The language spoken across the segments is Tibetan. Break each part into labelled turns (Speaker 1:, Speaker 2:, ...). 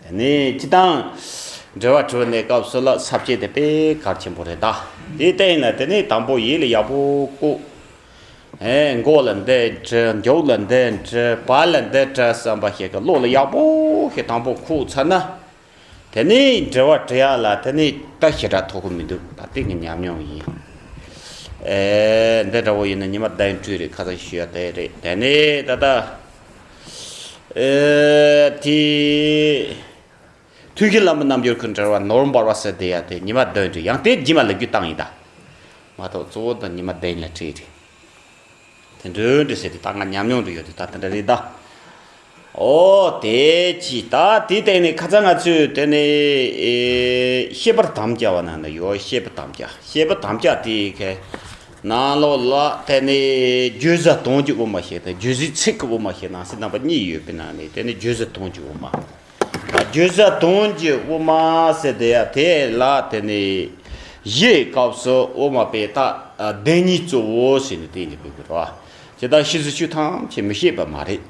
Speaker 1: དེ་ནི་སྤྱི་དང། འབྲེལ་བ་གྲོལ་ནས་སྐབས་སུ་ལ་ཟབ་བྱེད་དེ་པའི་གར་ཆེན་པོ་རེད་ད། དེ་ལྟ་ཡིན་ན་དེ་ནི་དང་པོ་ཡིད་ལ་ཡག་པོ་བཀུག། མགོ་ལ་འདི་དྲི་མགྱོགས་ལ་འདི་དྲི་བག་ལ་འདི་དྲི་བསམ་པ་ཞིག་གིས་བློ་ལ་ཡག་པོ་ཞིག་དང་པོ་ཁུག་ཚར་ན། དེ་ནི་འབྲེལ་བ་དྲི་ཡ་ལ་དེ་ནི་ད་ཞེ་དྲག་ཐོགས་གི་མི་འདུག་ད་སྟེང་གི་ཉམས་མྱོང་ཡིན། འདི་འདྲ་བོ་ཡིན་ན་ཉི་མ་ཟླ་ཡི་འཕྲུལ་རིག་ཁ་ཚ་ཞུ་ཡ་དེ་རེད་དེ་ནི་ད་ལྟ། དུས་ཀྱི་ལམ་རྣམ་འགྱུར་ཀུན་བྲལ་བ་ནོར་འབར་བ་སོས་དལ་ཡལ་ཏེ་ཉི་མ་བདུན་དུ་ཡང་དེ་བརྗིད་མ་ལེགས་རྒྱུ་བཏང་ཡིན་ད། མ་གཏོགས་གཙོ་བོ་དང་ཉི་མ་བདུན་ལ་བྲིས་རེད། དེ་མདུན་དུ་སོས་དལ་ད་ང་ཉམས་མྱོང་དུ་ཡོད་དུས་ད་དེ་འདྲ་རེད་ད། ཨོ་དེ་ཅི་ད་དེའི་སྟེང་ནས་ཁ་ཚ་ང་ཚོས་དེ་ནི་ཤེས་པར་དམ་བཅའ་བ་ན་ནི་ཡོད་ཤེས་པ་དམ་བཅའ་ཤེས་པ་དམ་བཅའ་དེའི་ཁ། ནང་ལོགས་ལ་དེ་ནི་རྒྱུད་བཟའ་བཏུང་གི་དབུ་མ་ཞེས་དང་རྒྱུད་བཟའི་ཚིག་གི་དབུ་མ་ཞེས་ནང་གསེས་རྣམ་པ་གཉིས་ཡོད་པའི་ནང་ནས་དེ་ནི་རྒྱུད་བཟའ་བཏུང་གི་དབུ་མ། རྒྱུད་བཟའ་བཏུང་གི་དབུ་མ་ཟེར་དེ་ཡ་དེ་ལ་དེ་ནི་གཞིའི་སྐབས་སུ་དབུ་མ་པའི་རྟགས་བདེན་གཉིས་གཙོ་བོ་ཞེས་ནི་དེ་ནི་བོད་པའི་ར་བ་དེ་དག་ཤི་ཟི་ཆུ་ཐམས་ཅད་མི་ཤེས་པ་མ་རེད་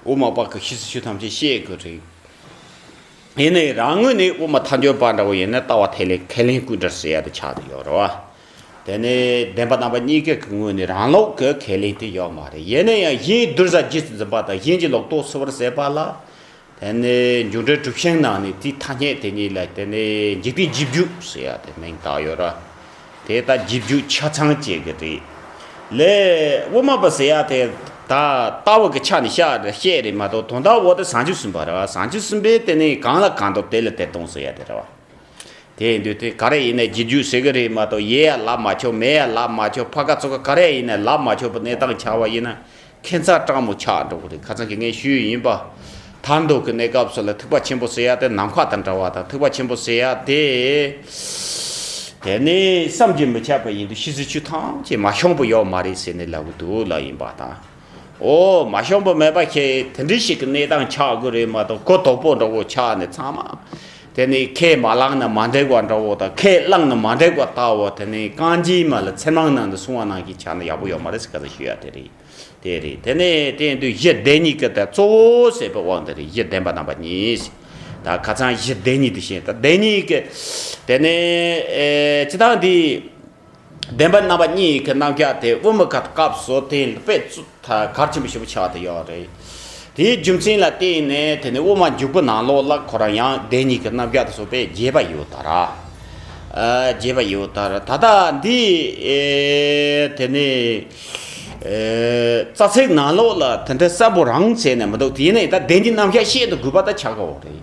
Speaker 1: དབུ་མ་པ་གི་ཤི་ཟི་ཆུ་ཐམས་ཅད་ཤེས་དགོས་རེད། ཡིན་ནའི་རང་ངོས་ནས་དབུ་མ་མཐའ་འཁྱོལ་པ་འདྲ་བོ་ཡིན་ན་ལྟ་བ་ཐད་ལས་ཁས་ལེན་སྐུ་འདྲར་ཟེར་ཡ་དེ་ཆགས་དུ་ཡོད་ར་བ། དེ་ནི་བདེན་པ་རྣམ་པ་གཉིས་ཀའི་ངོས་ནས་རང་ལོག་གི་ཁས་ལེན་དེ་ཡོད་མ་རེད་ཡིན་ན་ཡང་གཞན་བསྡུར་བཟའ་རྒྱུད་ཀྱི་འཛིན་པ་དང་གཞན་གྱི་ལོག་རྟོག་བསུ་བར་ཟད་པ་ལ། དེ་ནི་མཇུག་འབྲས་གྲུབ་ཤིང་ནང་ནས་དེའི་ཐ་སྙད་དེ་གཉིས་ལ་དེ་ནི་འཇིག་རྟེན་རྗེས་འཇུག་ཟེར་ཡ་དེ་མིང་བཏགས་ཡོད་ར། དེ་ད་རྗེས་འཇུག་ཆ་ཚང་བཅད་གི་རེད། ལས། དབུ་མ་པ་ཟེར་ཡ་དེ་ད་ལྟ་བུ་གི་ཆ་ནས་བཤད་རེད་མ་གཏོགས་དོན་དག་འོག་ཏུ་བཟང་སྤྱོད་གསུམ་པ་ར་བ་བཟང་སྤྱོད་གསུམ་པའི་དེ་ནི་གང་ལ་གང་འདོད་དེ་ལ་དེ་གཏོང་ཟེར་ཡ་དེ་ར་བ། དེ་ཡིན་དུས་དེ་ག་རེ་ཡིན་ནས་རྗེས་འཇུག་ཟེར་གི་རེད་མ་གཏོགས་ཡས་ཡ་ལབ་མ་ཆོག་མས་ཡ་ལབ་མ་ཆོག་ཕ་ག་ཚོ་ག་ག་རེ་ཡིན་ནས་ལབ་མ་ཆོག་པའི་གནས་སྟངས་ཆགས་པ་ཡིན་ན་ཁྱད་མཚར་སྤྲང་མོ་ཆགས་འགྲོ་གི་རེད་ཁ་ཚང་གི་ངས་ཞུས་ཡིན་པ། དར་མདོ་གི་གནས་སྐབས་སུ་ལ་ཐིགས་པ་ཆེན་པོ་ཟེར་ཡ་དེ་ནམ་མཁའ་དང་འདྲ་བ་དང་ཐིགས་པ་ཆེན་པོ་ཟེར་ཡ་དེ། དེ་ནི་བསམ་གྱིས་མི་ཁྱབ་པ་ཡིན་དུས་ཕྱི་ཟིལ་ཆུ་ཐམས་ཅད་མ་ཤོང་པོ་ཡོད་མ་རེད་ཟེར་ནས་ལབ་གི་འདུག་ལབ་ཡིན་པ་དང། འོ་མ་ཤོང་པོ་མེད་པ་ཁྱེད་དེ་འདྲི་ཞིག་གི་གནས་སྟངས་ཆགས་གི་རེད་མ་གཏོགས་གོ་དོག་པོ་འདྲ་བོ་ཆགས་ནས་ཚང་མ། དེ་ནི་ཁས་མ་བླངས་ན་མ་འདེགས་བ་འདྲ་བོ་དང་ཁས་བླངས་ན་མ་འདེགས་པ་ལྟ་བུ་དེ་ནི་རྐང་རྗེས་མ་ལ་ཚེར་མང་ནང་དུ་སོང་བ་ནང་གི་ཆ་ནི་ཡག་པོ་ཡོད་མ་རེད་ཟེར་ག་ཚོད་ཞུ་ཡག་དེ་རེད་དེ་རེད་དེ་ནི་དེ་ཡིན་དུས་གཞི་བདེ་གཉིས་ཀྱི་དེ་གཙོ་བོ་ཟེར་པའི་དབང་དེ་རེད་གཞི་བདེན་པ་རྣམ་པ་གཉིས་ད་ཁ་ཚང་གཞི་བདེ་གཉིས་དེ་བཞིན་ད་བདེན་གཉིས་ཀྱི་དེ་ནི་ཅི་ཐང་དེ། བདེན་པ་རྣམ་པ་གཉིས་ཡི་གེ་རྣམ་བརྒྱ་དེ་དབུ་མི་ཁ་དཀར་བཟོ་རྟེན་དཔེ་གར་ཆེན་པོ་ཞེས་པ་བྱ་བ་དེ་ཡོད་རེད། དེའི་རྒྱུ་མཚན་ལ་བརྟེན་ནས་དེ་ནས་དབུ་མ་འཇུག་པོ་ནང་ལོག་བཀླག་ཁོ་རང་ཡང་བདེན་གཉིས་ཀྱི་རྣམ་བརྒྱ་དེ་བཟོ་པས་རྒྱས་པ་ཡོད་ད་ར། རྒྱས་པ་ཡོད་ད་ར་ད་ལྟ་འདི་དེ་ནས་རྩ་ཚིག་ནང་ལོག་ལ་དེ་འདྲ་གསལ་པོ་རང་བྱས་ནས་མི་འདུག་དེ་ནས་ད་བདེན་གྱི་རྣམ་བརྒྱ་བཤད་དུ་དགོས་པ་ད་ཆགས་ཀའོ་རེད།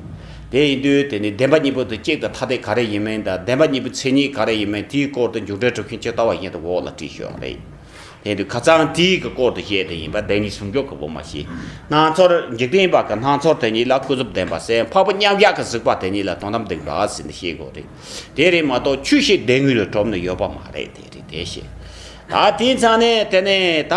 Speaker 1: དེ་ཡིན་དུས་དེ་ནི་བདེན་པ་གཉིས་པོ་དེ་གཅིག་དང་ཐ་དད་ག་རེ་ཡིན་མིན་དང་བདེན་པ་གཉིས་པོའི་མཚན་ཉིད་ག་རེ་ཡིན་མིན་དེའི་སྐོར་དུ་མཇུག་འབྲས་གྲུབ་མཁན་ཇི་ལྟ་བ་བཞིན་དུ་འོག་ལ་བྲིས་ཤོག་རེད། དེ་དུས་ཁ་ཚང་དེའི་གི་སྐོར་དུ་བཤད་དེ་ཡིན་པ་བདེན་གཉིས་ཟུང་འཇུག་གི་བུ་མ་ཤེས། སྣང་ཚོར་འཇིག་རྟེན་པ་གི་སྣང་ཚོར་དེ་གཉིས་ལ་ཀུན་རྫོབ་བདེན་པ་སེམས་འཕགས་པོ་མཉམ་གཞག་གི་གཟིགས་པ་དེ་གཉིས་ལ་དོན་དམ་བདེན་པ་ཟེར་ནི་ཤེས་དགོས་རེད། དེ་རེད་མ་གཏོགས་ཆུ་ཞིག་བདེན་དངོས་ལ་གྲུབ་ནི་ཡོད་པ་མ་རེད་དེ་རེད་དེ་ཤེས། ད་དེའི་ཚ་ནས་དེ་ནས་ད་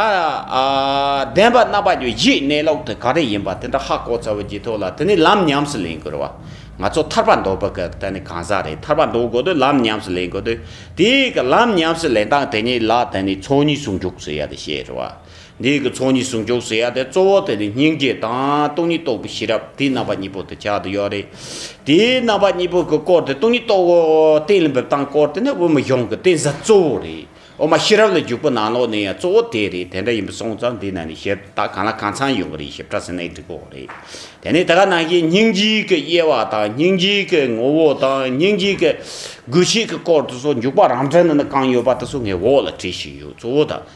Speaker 1: བདེན་པ་རྣམ་པ་ཉིད་གཞི་གནས་ལུགས་དེ་ག་རེ་ཡིན་པ་དེ་འདྲ་ཧ་གོ་ཚ་བོ་ཇི་ཐུག་ལ་དེ་ནས་ལམ་ཉམས་སུ་ལེན་དགོས་རེད་བ། ང་ཚོ་ཐར་པ་འདོད་པ་ག་དེ་ནི་གང་ཟག་རེད་ཐར་པ་འདོད་དགོས་དུས་ལམ་ཉམས་སུ་ལེན་དགོས་དུས་དེའི་ག་ལམ་ཉམས་སུ་ལེན་སྟངས་དེ་ཉིད་ལ་དེ་ནི་ཚོགས་གཉིས་སུ་འཇུག་ཟེར་ཡ་དེ་བཤད་རེད་བ། འདིས་ཀྱི་ཚོགས་གཉིས་ཟུང་འཇུག་ཟེར་ཡ་དེ་གཙོ་བོ་དེ་ནི་སྙིང་རྗེ་དང་སྟོང་ཉིད་རྟོགས་པའི་ཤེས་རབ་དེའི་རྣམ་པ་གཉིས་པོ་དེ་ཆགས་དུ་ཡོད་རེད། དེའི་རྣམ་པ་གཉིས་པོ་གྱི་སྐོར་དེ་སྟོང་ཉིད་རྟོགས་བོ་གཏན་ལ་འབེབས་སྟངས་སྐོར་དེ་ནི་དབུ་མ་གཞུང་གི་གཏན་ས་གཙོ་བོ་རེད། དབུ་མ་ཤེས་རབ་ལ་འཇུག་པའི་ནང་ལོགས་ནས་ཡང་གཙོ་བོ་དེ་རེད་དེ་འདྲ་ཡིན་པ་སོང་ཙང་འདི་ན་ནི་ཞེས་ད་གང་ལ་གང་ཚང་ཡོང་གི་རེད་ཞེས་སྐྲ་སེ་ནའི་སྒྲིག་གོག་རེད། དེ་ནས་ད་ག་ནང་བཞིན་སྙིང་རྗེ་གྱི་དབྱེ་བ་དང་སྙིང་རྗེ་གྱི་ངོ་བོ་དང་སྙིང་རྗེ་གྱི་དགོས་ཆེད་ཀྱི་སྐོར་དེ་ཚོ་འཇུག་པ་རང་འགྲེལ་ན་ནི་གང་ཡོད་པ་དེ་ཚོ་ངའི་འོག་ལ་བྲིས་ཤིག་ཡོད་གཙོ་བོ་དང།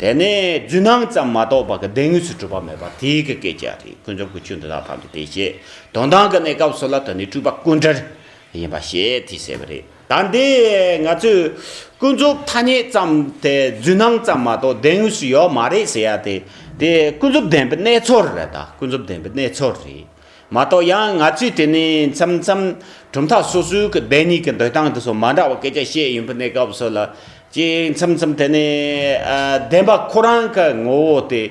Speaker 1: དེ་ནས་རྫུན་སྣང་ཙམ་མ་གཏོགས་པ་གི་བདེན་དངོས་སུ་གྲུབ་པ་མེད་པར་དེའི་གི་སྐད་ཅིག་རེ་ཀུན་རྫོབ་ཀྱི་ཆོས་འདི་དག་ཐམས་ཅད་དེ་ཞེས་དོན་དམ་གི་གནས་སྐབས་སུ་ལ་དོན་ནི་སྤྲུལ་པ་ཀུན་གྲོལ་ཡིན་པ་ཞེས་དེས་ཟེར་བ་རེད་ད། འདི་ང་ཚོས་ཀུན་རྫོབ་ཐ་སྙད་ཙམ་དེ་རྫུན་སྣང་ཙམ་མ་གཏོགས་བདེན་དངོས་སུ་ཡོད་མ་རེད་ཟེར་ཡ་དེ་དེ་ཀུན་རྫོབ་བདེན་པའི་གནས་ཚོར་རེད་ད་ཀུན་རྫོབ་བདེན་པའི་གནས་ཚོར་རེད་མ་གཏོགས་ཡང་ང་ཚོས་དེ་ནི་མཚམས་མཚམས་གྲུབ་མཐའ་སོ་སོའི་གི་བདེན་གཉིས་ཀྱི་འདོད་སྟངས་དེ་སོགས་མ་འདྲ་བ་སྐད་ཆ་བཤད་ཡོང་པའི་གནས་སྐབས་སུ་ལ་གཅིག་མཚམས་མཚམས་དེ་ནི་བདེན་པ་ཁོ་རང་གི་ངོ་བོ་དེ་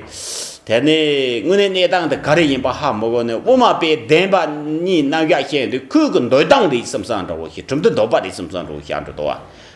Speaker 1: དེ་ནི་དངོས་གནས་གནས་སྟངས་དེ་ག་རེ་ཡིན་པ་ཧ་མི་གོ་ནས་དབུ་མ་པས་བདེན་པ་གཉིས་རྣམ་གཞག་བཤད་ཡོང་དུས་ཁོའི་གི་འདོད་སྟངས་རེད་སེམས་སང་འདྲ་བོ་ཞིག་གྲུབ་མཐའི་འདོད་པ་རེད་སེམས་སང་འདྲ་བོ་ཞིག་ཨ་འདྲ་དོ་བ་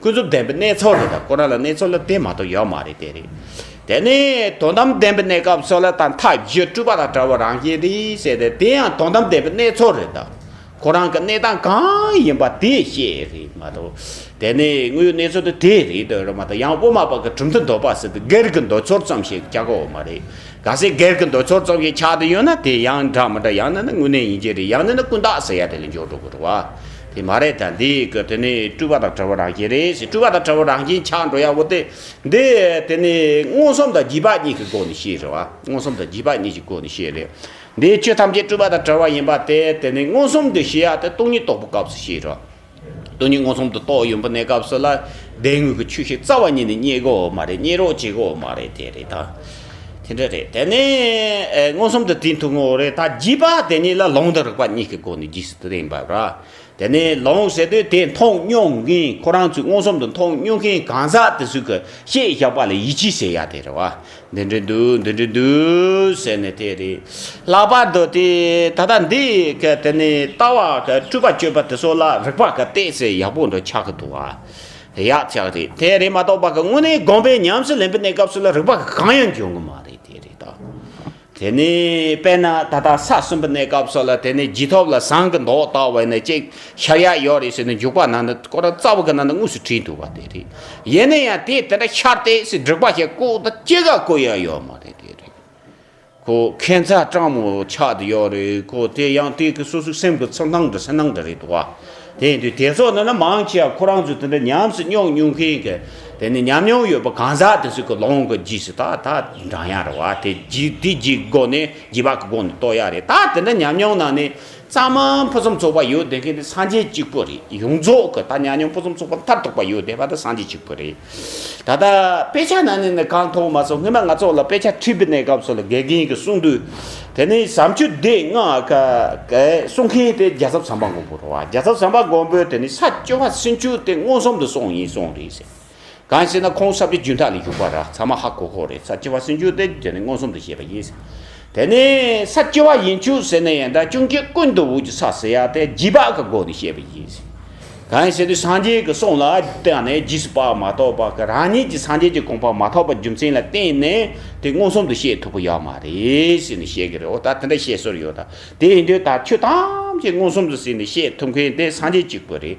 Speaker 1: ཀུན་རྫོབ་བདེན་པའི་གནས་ཚོར་རེད་ད་ཁོ་རང་ལ་གནས་ཚོར་ལ་དེ་མ་གཏོགས་ཡོད་མ་རེད་དེ་རེད། དེ་ནི་དོན་དམ་བདེན་པའི་གནས་སྐབས་སོགས་ལ་ད་མཐའ་བཞི་སྤྲུལ་པ་དང་བྲལ་བ་རང་བཞིན་རེད་ཟེར་ཏེ་དེ་ཡང་དོན་དམ་བདེན་པའི་གནས་ཚོར་རེད་ད། ཁོ་རང་གི་གནས་སྟངས་གང་ཡིན་པ་དེ་བཤད་རེད་མ་གཏོགས། དེ་ནི་དངོས་ཡོད་གནས་ཚོར་དེ་དེ་རེད་དོན་རེད་མ་གཏོགས་ཡང་དབུ་མ་པ་གི་གྲུབ་མཐའི་འདོད་པ་ཟེར་ཏེ་སྒེར་གྱི་འདོད་ཚོར་ཙམ་ཞིག་ཆགས་ཀའོ་མ་རེད། ག་སྲིད་སྒེར་གྱི་འདོད་ཚོར་ཙམ་ཞིག་ཆགས་དེ་ཡོད་ན་དེ་ཡང་འདྲ་མི་འདྲ་ཡང་ན་ནི་དངོས་གནས་ཡིན་གྱི་རེད་ཡང་ན་ནི་ཀུན་བཏགས་ཟེར་ཡ་དེ་ལ་འཇོག་འགྲོ་དགོས་རེད་བ། དེ་མ་རེད་ད་འདི་གི་དེ་ནི་སྤྲུལ་པ་དང་བྲལ་བ་རང་བཞིན་རེད་ཞེས་སྤྲུལ་པ་དང་བྲལ་བ་རང་བཞིན་ཆགས་འགྲོ་ཡག་པོ་སྟེ། འདི་དེ་ནི་མངོན་སུམ་དང་བརྗིད་པ་གཉིས་ཀྱི་སྒོ་ནས་ཤེས་རེད་བ། མངོན་སུམ་དང་བརྗིད་པ་གཉིས་ཀྱི་སྒོ་ནས་ཤེས་རེད། འདིའི་ཆོས་ཐམས་ཅད་སྤྲུལ་པ་དང་བྲལ་བ་ཡིན་པ་དེ་དེ་ནི་མངོན་སུམ་དུ་ཤེས་ཡག་སྟེ་སྟོང་ཉིད་རྟོགས་པའི་སྐབས་སུ་ཤེས་རོགས། སྟོང་ཉིད་མངོན་སུམ་དུ་རྟོགས་ཡོང་པོ་ནས་སྐབས་སུ་ལ་བདེན་དངོས་ཀྱི་ཆོས་ཤིག་རྩ་བ་ཉིད་ནས་རྙེད་དགོས་བ་མ་རེད་རྙེད་རོགས་བྱེད་དགོས་བ་མ་རེད་དེ་རེད་ད། དེ་འདྲ་རེད་དེ་ནས་མངོན་སུམ་དུ་དེའི་འཐུང་ངོ་རེད་ད་བགྱིས་པ་དེ་ཉིད་ལ་ལོང་དང་རིག་པ་གཉིས་ཀྱི་སྒོ་ནས་བགྱིས་སུ་ལེན་པར་ར་དེ་ནས་ལོང་ཟེར་དུས་དེ་མཐོང་སྙོགས་གིན་ཁོ་རང་ཚོས་མངོན་སུམ་དུ་མཐོང་སྙོགས་གིན་གང་ཟག་དེ་སུས་གི་ཤེས་བཞག་པ་ལ་ཡིད་ཆེས་བྱེད་ཡ་དེ་རེད་བ་འདི་འདྲི་འདུག་འདི་འདྲི་འདུག་ཟེར་ནས་དེ་རེད་ལག་པར་འདོད་དེ་ད་ལྟ་འདི་གི་དེ་ནས་ལྟ་བ་གི་སྤྲུལ་པ་སྤྱོད་པ་དེ་ཚོ་ལ་རིག་པ་གི་བལྟས་ཚེ་ཡག་པོ་འདྲ་ཆགས་གི་འདུག་བ། ཡག་ཅག་རེད་དེ་རེད་མ་གཏོགས་པ་གི་དངོས་གནས་དགོངས་པའི་ཉམས་སུ་ལེན་པའི་གནས་སྐབས་སུ་ལ་རིག་པ་གི་གང་ཡང་འབྱུང་གི་མ་རེད་དེ་རེད་ད། དེ་ནས་དཔེར་ན་ད་ལྟ་ས་གསུམ་པའི་གནས་སྐབས་སོགས་ལ་དེ་ནས་རྗེས་ཐོབ་ལ་ཟངས་ཀྱི་མདོག་ལྟ་བས་ནས་ཅིག་ཤར་ཡག་ཡོད་རེད་ཟེར་ནས་འཇུག་པ་ན་ནི་ཀོ་ར་རྩ་བ་གི་ན་ནི་དངོས་སུ་བྲིས་འདུག་པ་དེ་རེད། ཡིན་ན་ཡང་དེ་དེ་འདྲ་ཤར་ཏེ་ཟེར་སྒྲིག་པ་ཞིག་ཀོ་ད་ཅི་ག་ཀོ་ཡང་ཡོད་མ་རེད་དེ་རེད། ཁོ་ཁེན་ཚ་སྤྲང་མོ་ཆགས་དུ་ཡོད་རེད་ཁོ་དེ་ཡང་དེ་གི་སོ་སོའི་སེམས་ཀྱི་ཚོར་སྣང་འདྲ་སེམས་སྣང་འདྲ་རེད་དོ། དེ་ཡིན་དུས་དེ་ཚོ་ནི་ནི་མང་ཆེ་བ་ཁོ་རང་ཚོ་དེ་འདྲ་ཉམས་སུ་མྱོང་མྱོང་མཁན་གི་དེ་ནི་ཉམས་མྱོང་ཡོད་པ་གང་ཟག་དེ་ཚོ་གི་ལོང་གི་རྗེས་སུ་ད་ད་འབྲང་ཡ་རེད་བ་དེ་རྗེས་དེ་རྗེས་ཀྱི་སྒོ་ནས་རྗེས་དཔག་གི་སྒོ་ནས་རྟོགས་ཡ་རེད་ད་དེ་འདྲ་ཉམས་མྱོང་ནང་ནས་གཙང་མ་ཕུན་སུམ་ཚོགས་པ་ཡོད་བསྡད་མཁན་དེ་སངས་རྒྱས་གཅིག་པུ་རེད་ཡོངས་རྫོགས་གི་ད་ཉམས་མྱོང་ཕུན་སུམ་ཚོགས་པ་མཐར་ཐུག་པ་ཡོད་བསྡད་པ་དེ་སངས་རྒྱས་གཅིག་པུ་རེད། ད་ལྟ་དཔེ་ཆ་ནང་ནས་ནི་གང་མཐོང་མ་སོང་སྔོན་མ་ང་ཚོ་ལ་དཔེ་ཆ་འཁྲིད་པའི་གནས་སྐབས་སུ་ལ་དགེ་རྒན་གྱིས་གསུངས་དུས་དེ་ནི་བྱམས་ཆོས་སྡེ་ལྔ་གསུང་མཁན་དེ་རྒྱལ་ཚབ་ཟམ་པ་མགོན་པོ་རོ་རྒྱལ་ཚབ་ཟམ་པ་མགོན་པོས་དེ་ནི་ས་སྤྱོད་པ་སུན་ཕྱུར་དེ་མངོན་སུམ་དུ་སོང་ཡིན་གསུངས་རེད་ཟེར། གང་ཞེ་ན་ཁོང་ས་སྤྱོད་རྒྱུན་ཐག་ལས་བཞུགས་པ་རག་ཚ་མ་ཧ་གོ་གོ་རེད་ས་སྤྱོད་པ་སུན་ཕྱུར་དེ་དེ་ནི་མངོན་སུམ་དུ་བཤད་པ་ཡིན་ཟེར། དེ་ནས་ས་སྐྱེ་བ་ཡན་ཆུ་ཟེར་ནས་ཡན་དང་ཅུང་སྐྱེས་ཀུན་ཏུ་འུག་གི་ས་ཟེར་ཡ་དེ་རྗིས་དཔག་གི་སྒོ་ནས་བཤད་པ་ཡིན། གང་ཟེར་དུས་སངས་རྒྱས་ཀྱི་གསུང་ལ་བརྟེན་ནས་རྗིས་སུ་དཔག་མ་ཐོབ་པ་ཀྱི་རང་ཉིད་ཀྱི་སངས་རྒྱས་ཀྱི་དགོངས་པ་མ་ཐོབ་པ་རྒྱུ་མཚན་ལ་བརྟེན་ནས་དེ་མངོན་སུམ་དུ་བཤད་ཐུབ་པ་ཡོད་མ་རེད་ཟེར་ནས་བཤད་ཀྱི་རེད་འོ་ད་དེ་འདྲ་བཤད་སྲོལ་ཡོད་ད་དེ་ཡིན་དུས་ད་ཁྱོད་ཐམས་ཅད་མངོན་སུམ་དུ་ཟིན་ནས་བཤད་ཐུབ་མཁན་དེ་སངས་རྒྱས་གཅིག་པུ་རེད་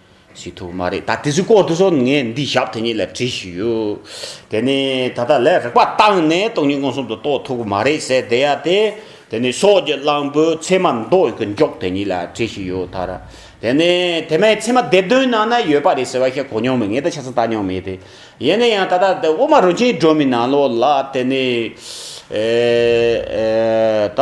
Speaker 1: ཞིག་ཐུག་མ་རེད་ད་དེ་ཚོའི་སྐོར་དུ་སོ་ངས་འདི་ཞབས་དེ་ཉིད་ལ་བྲིས་ཤིག་ཡོད་དེ་ནི་ད་ལྟ་ལས་རེག་པ་བཏང་ནས་སྟོང་ཉིད་མངོན་སུམ་དུ་རྟོགས་ཐུག་གི་མ་རེད་ཟེར་བསྡད་ཡ་དེ་དེ་ནི་སོགས་ཀྱི་གླང་པོའི་མཚན་མ་མདོ་ཡི་གི་མགྱོགས་དེ་ཉིད་ལ་བྲིས་ཤིག་ཡོད་ད་ར་དེ་ནི་དེ་མའི་མཚན་མ་སྡེབ་དོན་ནང་ན་ཡོད་པ་རེད་ཟེར་བ་ཞིག་གོ་མྱོང་མེད་ངས་ད་ཆ་ཙམ་བལྟ་མྱོང་མེད་དེ་ཡིན་ན་ཡང་ད་ལྟ་དེ་དབུ་མ་རུ་ཆེན་སྒྲོན་མེའི་ནང་ལོགས་ལ་དེ་ནི་ད།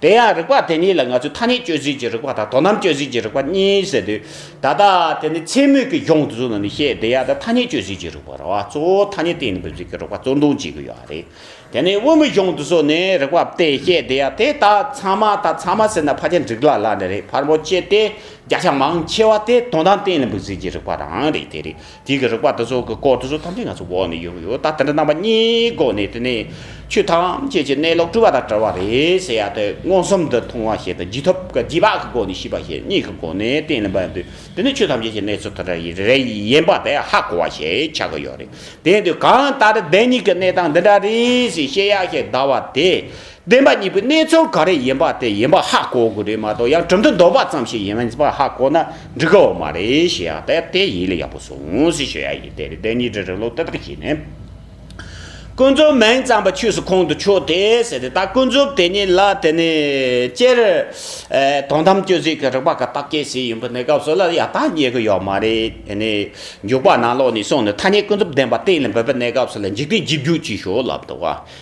Speaker 1: དེ་ཡང་རིག་པ་དེ་གཉིས་ལ་ང་ཚོས་ཐ་སྙད་གཅོད་ཚུལ་གྱི་རིག་པ་དང་དོ་སྣང་གཅོད་ཚུལ་གྱི་རིག་པ་གཉིས་ཟེར་དུས། ད་ལྟ་དེ་ནི་མཚན་སྨོད་ཀྱི་གཞུང་དུ་བཟུང་ནས་ནི་ཤེས་བདེ་ཡག་དང་ཐ་སྙད་གཅོད་ཚུལ་གྱི་རིག་པ་ར་བ་གཙོ་བོ་ཐ་སྙད་སྟེང་ནས་འབེབས་ཚུལ་གྱི་རིག་པ་གཙོར་འདོན་བྱེད་ཀྱི་ཡོད་རེད། དེ་ནི་དབུ་མའི་གཞུང་དུ་བཟུང་ནས་རིག་པ་སྟེ་ཤེས་བདེ་ཡག་དེ་དག་ཚང་མ་དང་ཚང་མ་ཟེར་ན་ཕ་ཆེན་འགྲིག་ལ་ལ་ནི་རེད་ཕར་མོ་ཅེས་ཏེ་བརྒྱ་ཆ་མང་ཆེ་བ་དེ་དོན་དམ་སྟེང་ནས་འབེབས་ཚུལ་གྱི་རིག་པ་རང་རེད་དེ་རེད་དེ་གི་རིག་པ་དེ་ཚོ་གི་སྐོར་དེ་ཚོ་ཐམས་ཅད་ང་ཚོ་འོག་ནས་ཡོང་གི་ཡོད་ད་དེ་འདྲ་རྣམ་པ་གཉིས་སྒོ་ནས་དེ་ནས་ཆོས་ཐམས་ཅད་ཀྱི་གནས་ལུགས་སྤྲུལ་བ་དང་བྲལ་བ་རེད་ཟེར་ཡ་དེ་མངོན་སུམ་དུ་མཐོང་བ་ཞིག་དང་བརྗིད་ཐོབ་ཀྱི་བརྗིད་བག་གི་སྒོ་ནས་ཤེས་པ་ཞིག་གཉིས་ཀྱི་སྒོ་ནས་གཏན་ལ་འབེབས་དུས་དེ་ནས་ཆོས་ཐམས་ཅད་ཀྱི་གནས་ཚུལ་དེ་འདྲ་ཡིན་རེད་ཡིན་པ་དེ་ཧ་གོ་བ་ཞིག་ཆགས་ཀྱི་ཡོད་རེད་དེ་དུས་གང་ལྟར་བདེན་གཉིས་ཀྱི་གནས་སྟངས་འདི་འདྲ་རེད་ཟེར་བཤད་ཡ་ཞིག་གདའ་བ་དེ་བདེན་པ་གཉིས་པོའི་གནས་ཚུལ་ག་རེ་ཡིན་པ་དེ་ཡིན་པ་ཧ་གོ་དགོས་རེད་མ་གཏོགས་ཡང་གྲུབ་མཐའ་འདོད་པ་ཙམ་ཞིག་ཡིན་པ་ཧ་གོ་ན་འགྲིག་གི་འོ་མ་རེད་ཞེས་ཡང་དེ་ལྟའི་ཡིད་ལ་ཡག་པོ་ཟུང་ཟིང་ཞུ་ཡག་ཡིན་དེ་རེད་བདེན་གཉིས་དྲིལ་རིག་ལུགས་དེ་དག་ཞིག་ནི། ཀུན་རྫོབ་མིང་ཙམ་པ་ཆོས་སུ་ཁོང་དུ་ཆུད་དེ་ཟེར་ཏེ་ད་ཀུན་རྫོབ་དེ་ཉིད་ལ་དེ་ནས་སྤྱིར་དོན་དམ་དཔྱོད་ཚུལ་གྱི་རིག་པ་ག་དག་སྐྱེ་སྲིད་ཡིན་པ་ནི་སྐབས་སོ་ལ་ཡང་ད་རྙེད་ཀྱི་ཡོད་མ་རེད་དེ་ནས་འཇུག་པ་ནང་ལོགས་ནས་སོང་ནས་ཐ་སྙད་ཀུན་རྫོབ་བདེན་པ་གཏན་ལ་འབེབས་པ་གནས་སྐབས་སུ་ལ་འཇིག་རྟེན་གཅིག་རྒྱུ་གཅིག་ཤོས་ལ་འདུག་ཨ།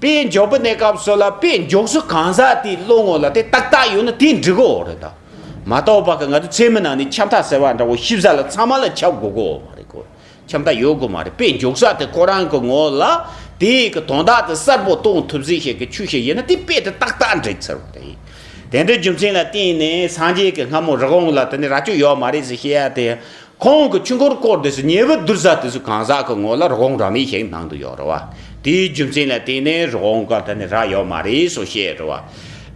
Speaker 1: དཔེ་འཇོག་པའི་གནས་སྐབས་སུ་ལ་དཔེ་འཇོག་སུ་གང་ཟག་དེའི་བློ་ངོ་ལ་དེ་ཏག་ཏག་ཡོད་ན་དེ་འགྲིག་གོ་རེད་ད། མ་རྟོགས་པ་ག་ང་ཚོ་ཚད་མི་ནང་ནས་ཁྱབ་མཐའ་ཟེར་བ་འདྲ་བོ་ཤི་བཟའ་ལ་ཚང་མ་ལ་ཁྱབ་དགོས་གོ་མ་རེད་ཁོ་ཁྱབ་མཐའ་ཡོད་དགོས་མ་རེད་དཔེ་འཇོག་ས་དེ་ཁོ་རང་གི་ངོ་ལ་དེའི་གི་དོན་དག་དེ་གསལ་པོ་གཏོང་ཐུབ་ཟིན་ཞིག་གི་ཆུ་ཞིག་ཡིན་ན་དེ་དཔེ་དེ་ཏག་ཏག་འགྲིག་ཟེར་བ་རེད། དེ་འདྲའི་རྒྱུ་མཚན་ལ་བརྟེན་ནས་སངས་རྒྱས་ཀྱི་སྔ་མོ་རི་བོང་ལ་དེ་ནི་རྭ་ཅོ་ཡོད་མ་རེད་ཟེར་བཤད་ཡ་དེ། ཁོང་གི་ཆུ་འགོར་སྐོར་དེ་སུ་ཉེ་བོ་བསྡུར་ས་དེ་སུ་གང་ཟག་གི་ངོ་ལ་རི་བོང་རྭ་མེད་ཞིག་ནང་དུ་ཡོད་རེད་བ། དེའི་རྒྱུ་མཚན་ལ་བརྟེན་ནས་རི་བོང་ག་ད་ནི་རྭ་ཡོད་མ་རེད་སུ་བཤད་རེད་བ།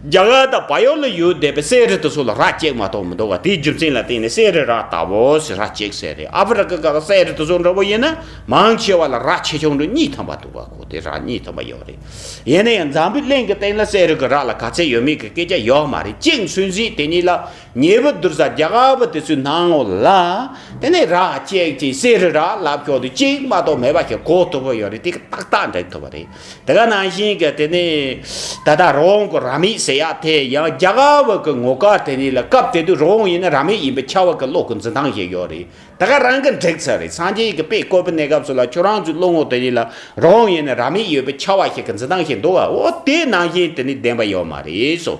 Speaker 1: རྒྱ་གར་དང་བལ་ཡུལ་ལ་ཡོད་བསྡད་པའི་སའི་རི་དེ་སུ་ལ་རྭ་བཅད་མ་གཏོགས་མི་འདུག་བ་དེའི་རྒྱུ་མཚན་ལ་བརྟེན་ནས་སའི་རི་རྭ་ལྟ་བུ་ཞིག་རྭ་བཅད་ས་རེད་ཨ་ཕི་རི་ཀ་ག་སའི་རི་དེ་སུ་འདྲ་བོ་ཡིན་ན་མང་ཆེ་བ་ལ་རྭ་ཆེ་ཆུང་འདྲ་གཉིས་ཐོན་པ་འདུག་བ་གོ་དེ་རྭ་གཉིས་ཐོན་པ་ཡོད་རེད། ཡིན་ན་ཡང་འཛམ་བུའི་གླིང་གི་སྟེང་ལ་སའི་རི་གི་རྭ་ལ་ག་ཚད་ཡོད་མེད་ཀྱི་སྐད་ཆ་ཡོད་མ་རེད་གཅིག་སུན་གཟིགས་དེ་གཉིས་ལ་ཉེ་བུ་དུར་ས་རྒྱ་གར་བ་དེ་ཚོའི་སྣང་ངོ་ལ། དེ་ནས་ར་སྐྱེགས་ཀྱི་གསེར་རི་ར་ལབ་ཁྱོག་དུ་གཅིག་མ་གཏོགས་མེད་པ་ཞིག་གོ་ཐུབ་བོ་ཡོད་རེད་དེ་ཏག་ཏག་འགྲེང་ཐུབ་བ་རེད། དེ་ག་ནང་བཞིན་གྱི་དེ་ནི། ད་ལྟ་རོང་གི་ར་མི་ཟེར་ཡ་དེ་ཡང་རྒྱ་གར་བ་གི་ངོ་དཀར་དེ་ནི་ལ་སྐབས་དེ་དུས་རོང་ཡིན་ན་ར་མི་ཡིན་པའི་ཁྱ་བ་གི་བློ་གི་འཛིན་སྟངས་ཞིག་ཡོད་རེད་དེ་ག་རང་གི་འགྲིག་ཚར་རེད་སངས་རྒྱས་ཀྱི་དཔེ་བཀོད་པའི་གནས་སྐབས་སུ་ལ་ཁྱོད་རང་ཚོའི་བློ་ངོ་དེ་ནི་ལ་རོང་ཡིན་ན་ར་མི་ཡོད་པའི་ཁྱ་བ་ཞིག་གི་འཛིན་སྟངས་ཞིག་འདུག་བ་འོ་དེ་ནང་བཞིན་དེ་ནི་བདེན་པ་ཡོད་མ་རེད་སོ་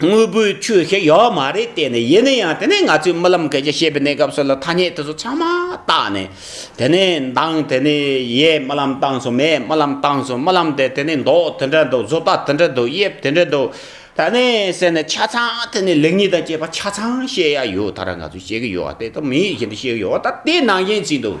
Speaker 1: དངོས་པོའི་ཆོས་ཞིག་ཡོད་མ་རེད་བལྟས་ནས་ཡིན་ན་ཡང་དེ་ནས་ང་ཚོས་རྨི་ལམ་གལ་ཆེ་བཤད་པའི་གནས་སྐབས་སུ་ལ་ཐ་སྙད་དེ་ཚོ་ཚང་མ་བཏགས་ནས་དེ་ནས་མདངས་དེ་ནས་ཡས་རྨི་ལམ་བཏང་སོང་མས་རྨི་ལམ་བཏང་སོང་རྨི་ལམ་དེ་དེ་ནས་མདོག་དེ་འདྲ་འདུག་བཟོ་ལྟ་དེ་འདྲ་འདུག་དབྱིབས་དེ་འདྲ་འདུག་ད་ནས་ཟེར་ནས་ཆ་ཚང་དེ་ནས་ལེགས་ཉེས་དང་བཅས་པ་ཆ་ཚང་བཤད་ཡ་ཡོད་ད་ར་ང་ཚོས་བཤད་གི་ཡོད་བལྟས་ད་མི་ཡིས་བཤད་གི་ཡོད་ད་དེ་ནང་བཞིན་བྱས་འདུག་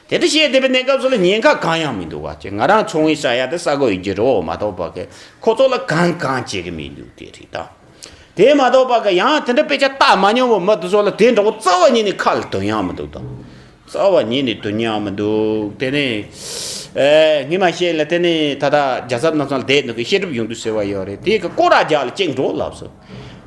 Speaker 1: དེ་ལྟར་བཤད་བསྡད་པའི་གནས་སྐབས་སུ་ལ་ཉེན་ཁ་གང་ཡང་མི་འདུག་བ་ཅོ་ང་རང་ཚོང་བའི་ས་ཡ་དེ་ས་གོ་ཡི་གི་རོ་མ་གཏོགས་པ་གི་ཁོ་ཚོ་ལ་གང་གང་བྱེད་གི་མི་འདུག་དེ་རེད་ད། དེ་མ་གཏོགས་པ་གི་ཡང་དེ་འདྲ་དཔེ་ཆ་བལྟ་མ་མྱོང་བའི་མི་དེ་ཚོ་ལ་དེ་འདྲ་བོ་རྩ་བ་ཉིད་ནས་ཁ་ལ་དོན་ཡང་མི་འདུག་ད། རྩ་བ་ཉིད་ནས་དོན་ཡང་མི་འདུག་དེ་ནི། ཨེ། ངས་མ་བཤད་ལ་དེ་ནི་ད་ལྟ་རྒྱ་གཟབ་རྣམས་སང་ལ་བསྡད་འདུག་གི་བཤད་སྒྲུབ་ཡོང་དུས་ཟེར་བ་ཡོད་རེད་དེ་གི་སྐོར་ར་རྒྱག་ལ་ཅེག་འགྲོ་ལབ་སོང།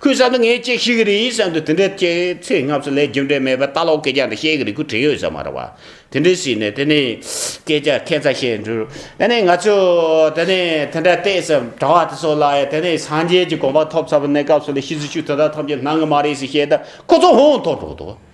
Speaker 1: ཁོས་བསམ་ཚེ་ངས་ཅིག་ཤེས་གི་རེད་ཡིན་བསམ་དུ་དེ་འདྲའི་སྐྱེ་ཚེ་སྔ་ཚོད་ལས་རྒྱུ་འབྲས་མེད་པའི་ལྟ་ལོག་སྐད་ཆ་འདི་བཤད་གི་རེད་ཁུ་དྲེད་ཡོད་ས་མ་རེད་བ། དེ་འདྲའི་ཞིག་ནས་དེ་ནས་སྐད་ཆ་ཁེ་ཚ་ཤེས་འགྲོ། དེ་ནས་ང་ཚོས་དེ་ནས་དེ་འདྲ་བལྟས་སམ་དྲ་བ་དེ་ཚོ་ལ་ཡང་དེ་ནས་སངས་རྒྱས་ཀྱི་དགོངས་པ་ཐོབ་ཚར་བའི་གནས་སྐབས་སུ་ལས་ཤི་ཟིག་ཤུགས་དེ་དག་ཐོབ་ཀྱི་སྣང་གི་མ་རེད་ཟིག་བཤད་ད་ཁོ་ཚོ་ཧོན་ཧོན་ཐོག་འགྲོ་གི་འདུག།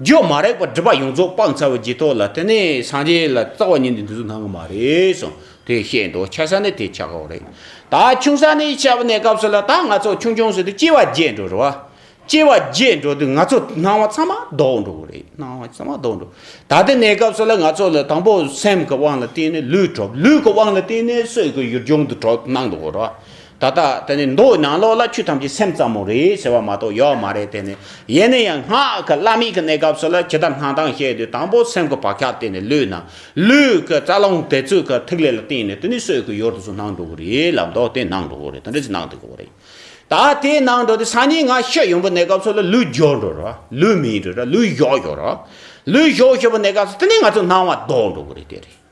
Speaker 1: རྒྱུ་མ་རེག་པར་སྒྲིབ་པ་ཡོངས་རྫོགས་སྤང་ཚར་བའི་རྗེས་ཐོག་ལ་དེ་ནི་སངས་རྒྱས་ལ་རྩ་བ་ཉིད་འདི་འདི་ཚོ་སྣང་གི་མ་རེད་གསུངས་དེ་བཤད་འདུག་ཆགས་ས་ནི་དེ་ཆགས་འོག་རེད། ད་ཆུང་ས་ནི་ཆགས་པ་ནས་སྐབས་སུ་ལ་ད་ང་ཚོ་ཆུང་ཆུང་ཟེར་དུས་སྐྱེ་བ་བརྒྱད་འགྲོ་རུ་བ། སྐྱེ་བ་བརྒྱད་འགྲོ་དུས་ང་ཚོ་སྣང་བ་ཚང་མ་ལྡོག་འགྲོ་གི་རེད་སྣང་བ་ཚང་མ་ལྡོག་འགྲོ། ད་དེ་ནས་སྐབས་སུ་ལ་ང་ཚོ་ལ་དང་པོ་སེམས་ཀྱི་དབང་ལ་བརྟེན་ནས་ལུས་གྲུབ་ལུས་ཀྱི་དབང་ལ་བརྟེན་ནས་སྲོད་ཀྱི་ཡུལ་ལྗོངས་དུ་གྲོ་སྣང་འདུག་རུ་བ། ད་ལྟ་དེ་ནི་མདོ་ནང་ལོགས་ལ་ཆོས་ཐམས་ཅད་སེམས་ཙམ་མོ་རེད་ཟེར་བ་མ་གཏོགས་ཡོད་མ་རེད་དེ་ནི་ཡེ་ནས་ཡང་སྔགས་ཀྱི་བླ་མེད་ཀྱི་གནས་སྐབས་སུ་ལ་ཇི་ལྟར་སྣང་སྟངས་བཤད་དུས་དང་པོ་སེམས་ཀྱི་བག་ཆགས་བརྟེན་ནས་ལུས་སྣང་ལུས་ཀྱི་རྩ་རླུང་དེ་ཚུལ་གྱི་ཐིག་ལེ་ལ་བརྟེན་ནས་དེ་ནི་སྲོད་ཀྱི་ཡུལ་དུ་སུ་སྣང་འགྲོ་གི་རེད་ལབ་མདོག་དེ་སྣང་འགྲོ་གི་རེད་དེ་འདྲ་ཅིག་སྣང་འགྲོ་གི་རེད་ད་དེ་སྣང་འགྲོ་དེ་སང་ཉིན་ང་ཤི་ཡོང་པའི་གནས་སྐབས་སུ་ལ་ལུས་སྦྱོར་འགྲོ་ར་ལུས་མིད་འགྲོ་ར་ལུས་གཞོག་འགྲོ་ར་ལུས་གཞོག་ཞུ་བའི་གནས་སྐབས་སུ་དེ་ནི་ང་ཚོ་སྣང་བ་ལྡོག་འགྲོ་གི་རེད་དེ་རེད།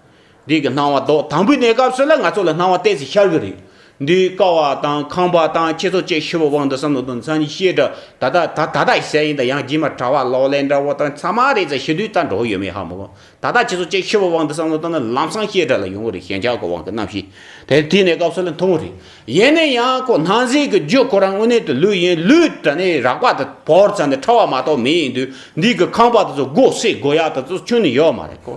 Speaker 1: འདི་གི་སྣང་བ་ལྡོག་དང་པོའི་གནས་སྐབས་སུ་ལ་ང་ཚོ་ལ་སྣང་བ་བལྟས་ཚེ་ཤར་གི་རེད། འདིའི་ཀ་བ་དང་ཁང་པ་དང་ཁྱེད་ཚོ་བཅས་ཤི་བོ་དབང་དུ་བསམ་བློ་དོན་ཚན་གྱི་བཤད་སྒྲ་ད་ལྟ་ད་ད་ལྟ་ཡི་གསལ་ཡིན་དང་ཡང་རྗེས་མ་གྲྭ་བ་ལོག་ལེན་འདྲ་བོ་དང་ཚང་མ་རེད་ཚ་ཤི་དུས་ལྟར་འགྲོ་གི་ཡོད་མེད་ཧ་མི་གོ་ད་ད་ཁྱེད་ཚོ་བཅས་ཤི་བོ་དབང་དུ་བསམ་བློ་དང་ལམ་སང་བཤད་སྒྲ་ལ་ཡོང་གི་རེད་ཞེན་ཆགས་ཀྱི་དབང་གི་རྣམ་ཤེས་དེ་དེའི་གནས་སྐབས་སུ་ལ་མཐོང་གི་རེད་ཡིན་ནའི་ཡང་ཁོ་སྣང་གཟིགས་ཀྱི་རྒྱུ་ཁོ་རང་དངོས་གནས་དུ་ལུས་ཡིན་ལུས་དྲ་ནས་རག་པ་དང་བོར་ཚ་ནས་ཁྲ་བ་མ་གཏོགས་མེད་ཡིན་དུས་འདི་གི་ཁང་པ་དེ་ཚོ་སྒོ་བསྲེག་སྒོ་ཡག་དེ་ཚོ་ཆུང་ནས་ཡོད་མ་རེད་ཀོ།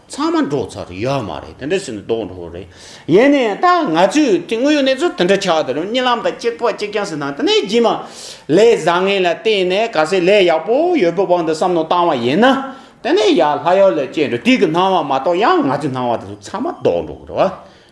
Speaker 1: ཚང་མ་འགྲོ་ཚར་ཡོད་མ་རེད་དེ་འདྲ་བྱས་ན་དོགས་འགྲོ་བོ་རེད། ཡིན་ནའི་ད་ང་ཚོས་དེ་དངོས་ཡོད་གནས་ཚུལ་དེ་འདྲ་ཆགས་དེ་རུང་རྨྱི་ལམ་དང་གཅིག་པ་གཅིག་རྐྱང་ཟེར་ན་དེ་ནས་རྗེས་མ་ལས་བཟང་ངན་ལ་བལྟས་ནས་ག་ཚད་ལས་ཡག་པོ་ཡོད་པའི་དབང་དུ་བསམ་མནོ་བཏང་བ་ཡིན་ན་དེ་ནས་ཡར་ལྷ་ཡོད་ལས་སྐྱེས་འགྲོ་དུས་ཀྱི་སྣང་བ་མ་གཏོགས་ཡང་ང་ཚོའི་སྣང་བ་དེ་ཚོ་ཚང་མ་དོགས་འགྲོ་བོ་རེད།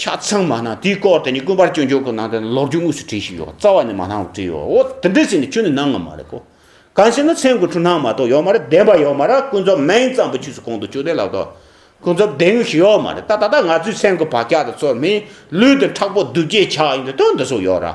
Speaker 1: ཆ་ཚང་མ་ནང་དེའི་སྐོར་དེ་ནི་དཀོན་པར་སྐྱོན་ཆོས་གོ་ནང་དེར་ལོག་རྒྱུ་དངོས་སུ་བྲིས་ཤིག་ཡོད་རྩ་བ་ནས་མ་སྣང་བ་བྲིས་ཡོད་འོ་དེ་འདྲས་ཟེར་ནས་ཁྱོད་ནི་སྣང་ང་མ་རེད་གོ་གང་ཟེར་ན་མཚན་དགུ་འཁྲུ་སྣང་མ་གཏོགས་ཡོད་མ་རེད་བདེན་པ་ཡོད་མ་ར་ཀུན་རྫོབ་མན་གཙང་པོ་ཕྱིས་སུ་གོང་དུ་བཅུག་བདེན་ལགས་དོ་ཀུན་རྫོབ་བདེན་དངོས་ཞིག་ཡོད་མ་རེད་ད་ད་ལྟ་ང་ཚོའི་མཚན་དགུ་བག་ཆགས་དང་ཚོར་མེད་ལུས་དེ་ཁྲག་པོ་གདུལ་བྱའི་ཆགས་ཡིན་དུ་དོན་འདི་སོགས་ཡོད་ར།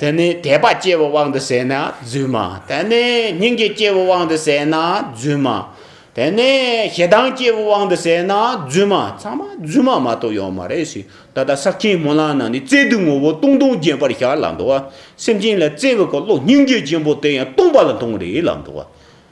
Speaker 1: དེ་ནས་དད་པ་སྐྱེ་བའི་དབང་དུ་བྱས་ན་བརྫུན་མ། དེ་ནས་སྙིང་རྗེ་སྐྱེ་བའི་དབང་དུ་བྱས་ན་བརྫུན་མ། དེ་ནས་ཞེ་སྡང་སྐྱེ་བའི་དབང་དུ་བྱས་ན་བརྫུན་མ། ཚང་མ་བརྫུན་མ་མ་གཏོགས་ཡོད་མ་རེད་ཤི། ད་ལྟ་ས་སྐྱའི་སྨོན་ལམ་ནང་ནས་བརྩེ་དུང་ངོ་བོ་སྟོང་སྟོང་རྒྱན་པར་ཤར་ལ་འདུག་བ། སེམས་ཅན་ལ་བརྩེ་བའི་འཁོར་ལོ་སྙིང་རྗེ་ཆེན་པོ་དེ་ཡང་སྟོང་པ་ལ་མཐོང་རེད་ལ་འདུག་བ།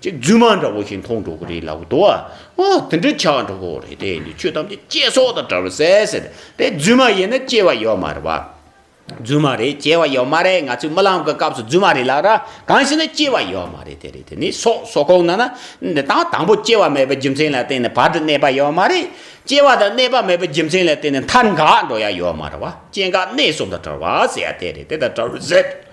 Speaker 1: ཅེས་རྫུན་མ་འདྲ་བོ་ཞིག་མཐོང་འགྲོ་གི་རེད་ལབ་གི་འདུག་ཨ། འོ་དེ་འདྲ་ཆགས་འགྲོ་གི་རེད་དེ་འདྲའི་ཆོས་ཐམས་ཅད་སྐྱེ་སོགས་དང་བྲལ་བ་ཟད་ཟེར། དེ་རྫུན་མ་ཡིན་ན་སྐྱེ་བ་ཡོད་མ་རེད་བ། རྫུན་མ་རེད་སྐྱེ་བ་ཡོད་མ་རེད་ང་ཚོས་རྨི་ལམ་གྱི་སྐབས་སུ་རྫུན་མ་རེད་ལབ་ར་གང་ཞིག་ན་སྐྱེ་བ་ཡོད་མ་རེད་དེ་རེད་དེ་ནི་སོགས་སོགས་ཁོག་ན་ན་འདི་དང་དང་པོ་སྐྱེ་བ་མེད་པའི་རྒྱུ་མཚན་ལ་བརྟེན་ནས་བར་དུ་གནས་པ་ཡོད་མ་རེད། སྐྱེ་བ་དང་གནས་པ་མེད་པའི་རྒྱུ་མཚན་ལ་བརྟེན་ནས་མཐར་འགག་འགྲོ་ཡ་ཡོད་མ་རེད་བ་སྐྱེ་འགག་གནས་གསུམ་དང་བྲལ་བ་ཟེར་ཡ་དེ་རེད་དེ་དང་བྲལ་བ་ཟད།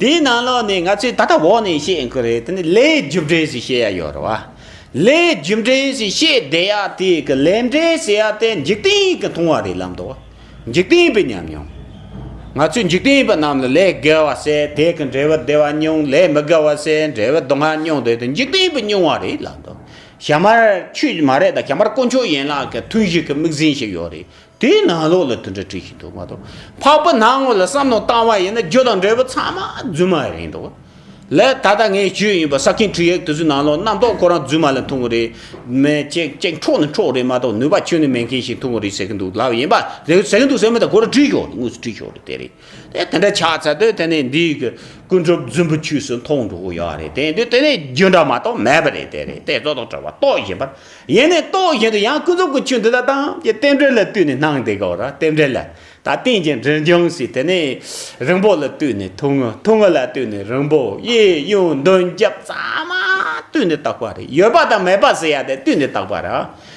Speaker 1: དེའི་ནང་ལོགས་ནས་ང་ཚོས་ད་ལྟ་འོག་ནས་བཤད་མཁན་རེད་དེ་ནི་ལའི་རྒྱུ་འབྲས་སུ་བཤད་ཡ་ཡོད་རེད་བ། ལའི་རྒྱུ་འབྲས་སུ་བཤད་བསྡད་ཡ་དེ་གི་ལས་འབྲས་ཟེར་ཡ་དེ་འཇིག་རྟེན་གྱི་མཐོང་བ་རེད་ལབ་འདུག་འཇིག་རྟེན་པའི་ཉམས་མྱོང། ང་ཚོས་འཇིག་རྟེན་པ་རྣམས་ལ་ལས་དགེ་བ་བསད་དེ་གི་འབྲས་བུ་བདེ་བ་མྱོང་ལས་མི་དགེ་བ་བསད་འབྲས་བུ་སྡུག་བསྔལ་མྱོང་འདོད་དེ་འཇིག་རྟེན་པའི་མྱོང་བ་རེད་ལབ་འདུག་ཞྭ་དམར་ཁྱོད་མ་རེད་ད་ཞྭ་དམར་དཀོན་མཆོག་ཡན་ལག་གི་ཐུན་བཞི་གི་དམིགས་ཟིན་ཞིག་ཡོད་རེད་དེའི་ནང་ལོགས་ལ་དུ་འདྲ་བྲིས་ཤིག་འདུག་མ་གཏོགས་འཕགས་པ་ནང་ངོ་ལ་བསམ་མནོ་བཏང་བ་ཡིན་ན་རྒྱུ་དང་འབྲས་བུ་ཚང་མ་རྫུན་མ་རེད་འདུག་ལས་ད་ལྟ་ངས་བརྗོད་ཡིན་པ་ས་ཁེངས་དྲུག་ཡེག་དུ་ཚོད་ནང་ལོགས་རྣམ་རྟོག་ཁོ་རང་རྫུན་མ་ལ་འཐུང་གི་རེད་མེད་ཅེ་ཅེ་འཕྲོག་ནི་འཕྲོག་རེད་མ་གཏོགས་ནུས་པ་ཁྱོད་ནི་མེད་མཁན་ཞིག་འཐུང་གི་རེད་ཟེར་གི་འདུག་ལབ་ཡིན་པ་ཟེར་གི་འདུག་ཟེར་མེད་ད་ཁོ་རང་བྲིས་ཞོག་དངོས་སུ་བྲིས་ཞོག་དེ་རེད། དེ་འདྲ་ཆགས་ཚར་དུས་དེ་ནས་འདི་ཡི་ཀུན་གྲུབ་རྫུན་པོ་ཁྱོས་སུ་མཐོང་འགྲོ་གི་ཡོད་རེད་དེ་འདི་དེ་ནས་རྒྱུ་འདྲ་མ་གཏོགས་མེད་པ་རེད་དེ་རེད་དེ་རྫོགས་དང་བྲལ་བ་རྟོགས་བཞིན་པར་ཡེ་ནས་རྟོགས་བཞིན་དུ་ཡང་ཀུན་རྫོབ་ཀྱི་ཆོས་འདི་དག་དང་ཀྱི་རྟེན་འབྲེལ་ལ་བལྟོས་ནས་སྣང་དེ་གའོ་ར་རྟེན་འབྲེལ་ལ་ད་རྟེན་གྱི་འབྲེལ་འབྱུང་སྲིད་དེ་ནས་རིང་པོ་ལ་བལྟོས་ནས་ཐུང་ངུ་ཐུང་ངུ་ལ་བལྟོས་ནས་རིང་པོ་གཡས་གཡོན་མདུན་རྒྱབ་གཙང་མ་བལྟོས་ནས་བརྟགས་པ་རེད་ཡོད་པ་དང་མེད་པ་ཟེར་ཡ་དེ་བལྟོས་ནས་བརྟགས་པ་ར་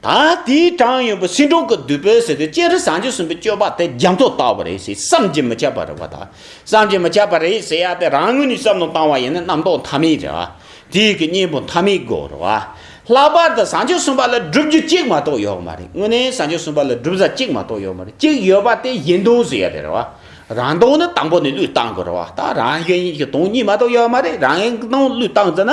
Speaker 1: ད་ལྟའི་ཀྲང་ཡོན་པོ་སྲིད་འགྲོ་གི་དུས་བོད་ཟེར་དུས་སྤྱན་རས་བཟང་སྤྱོད་གསུམ་པའི་སྤྱོད་པ་དེ་རྒྱ་མཚོ་ལྟ་བུ་རེད་ཟེར་བསམ་གྱིས་མི་ཁྱབ་པ་རེད་བ་ད་བསམ་གྱིས་མི་ཁྱབ་པ་རེད་ཟེར་ཡ་དེ་རང་ངོས་ནས་བསམ་བློ་བཏང་བ་ཡིན་ན་རྣམ་རྟོག་མཐའ་མེད་རེད་བ་དུས་ཀྱི་གཉེན་པོ་མཐའ་མེད་དགོས་རེད་བ། ལྷག་པར་དུ་བཟང་སྤྱོད་གསུམ་པ་ལ་སྒྲུབ་རྒྱུ་གཅིག་མ་གཏོགས་ཡོད་མ་རེད་དངོས་གནས་བཟང་སྤྱོད་གསུམ་པ་ལ་སྒྲུབ་ས་གཅིག་མ་གཏོགས་ཡོད་མ་རེད་གཅིག་ཡོད་པ་དེ་གཞན་དོན་ཟེར་ཡ་རེད་བ་རང་དོན་ནི་དང་པོ་ནས་བློས་བཏང་དགོས་རེད་བ་ད་རང་གཞན་གྱི་དོན་གཉིས་མ་གཏོགས་ཡོད་མ་རེད་རང་གཞན་གྱི་དོན་བློས་བཏང་ཟེར་ན།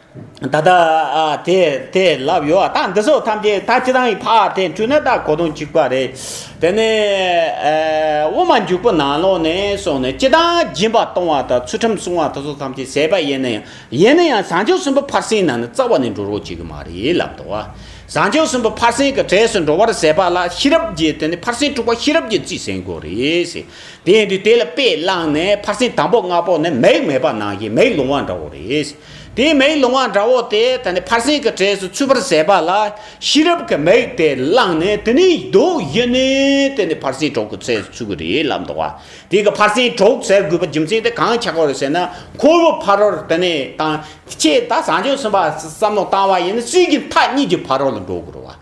Speaker 1: ད་ལྟ་དེ་དེ་ལབ་ཡོད་ཨ་ད་འདི་སོགས་ཐམས་ཅད་ད་ཅི་ཐང་ཡི་ཕག་དེ་འཁྲུལ་ན་ད་གོ་དོན་གཅིག་པ་རེད་དེ་ནས་དབུ་མ་འཇུག་པོ་ནང་ལོག་ནས་སོང་ནས་ཅི་ཐང་སྦྱིན་པ་གཏོང་བ་དང་ཚུལ་ཁྲིམས་སྲུང་བ་དེ་སོགས་ཐམས་ཅད་ཟད་པ་ཡིན་ན་ཡང་ཡིན་ན་ཡང་བཟང་སྤྱོད་གསུམ་པོ་ཕར་ཟིན་ནང་ནས་རྩ་བ་ནས་འགྲོ་རོགས་བྱེད་གི་མ་རེད་ལབ་དོ་བཟང་སྤྱོད་གསུམ་པོ་ཕར་ཟིན་གི་གྲས་སུ་འགྲོ་བར་ཟད་པ་ལ་ཤེས་རབ་ཀྱི་དེ་ནས་ཕར་ཟིན་དྲུག་པ་ཤེས་རབ་ཀྱི་རྩིས་ཟིན་དགོས་རེད་དེ་ཡིན་དུས་དེ་ལ་དཔེ་བླངས་ནས་ཕར་ཟིན་དང་པོ་ལྔ་པོ་ནི་མིག་མེད་པ་ནང་བཞིན་མིག་ལོང་བ་འདྲ་བོ་རེད། དེའི་མིག་ལོང་བ་འདྲ་བོ་དེ་ད་ནི་ཕར་ཕྱིན་གྱི་གྲས་སུ་ཚུད་པར་བྱས་པ་ལ་ཤེས་རབ་ཀྱི་མིག་དེ་བླངས་ནས་དེ་ནི་རྡོ་ཡིན་ནི་དེ་ནི་ཕར་ཕྱིན་གྲོགས་ཀྱི་གྲས་སུ་ཚུད་ཀྱི་རེད་ལབ་འདུག་བ་དེ་ག་ཕར་ཕྱིན་གྲོགས་ཟེར་དགོས་པའི་རྒྱུ་མཚན་དེ་གང་ཆགས་པར་ཟེར་ན་ཁོ་བོ་ཕ་རོལ་དེ་ནི་དང་ཁྱེད་ད་བཟང་སྤྱོད་ཟིན་པ་བསམ་བློ་བཏང་བ་ཡིན་ན་སུས་ཀྱི་མཐའ་གཉིས་ཀྱི་ཕ་རོལ་ལ་འགྲོ་དགོས་རུང་བ།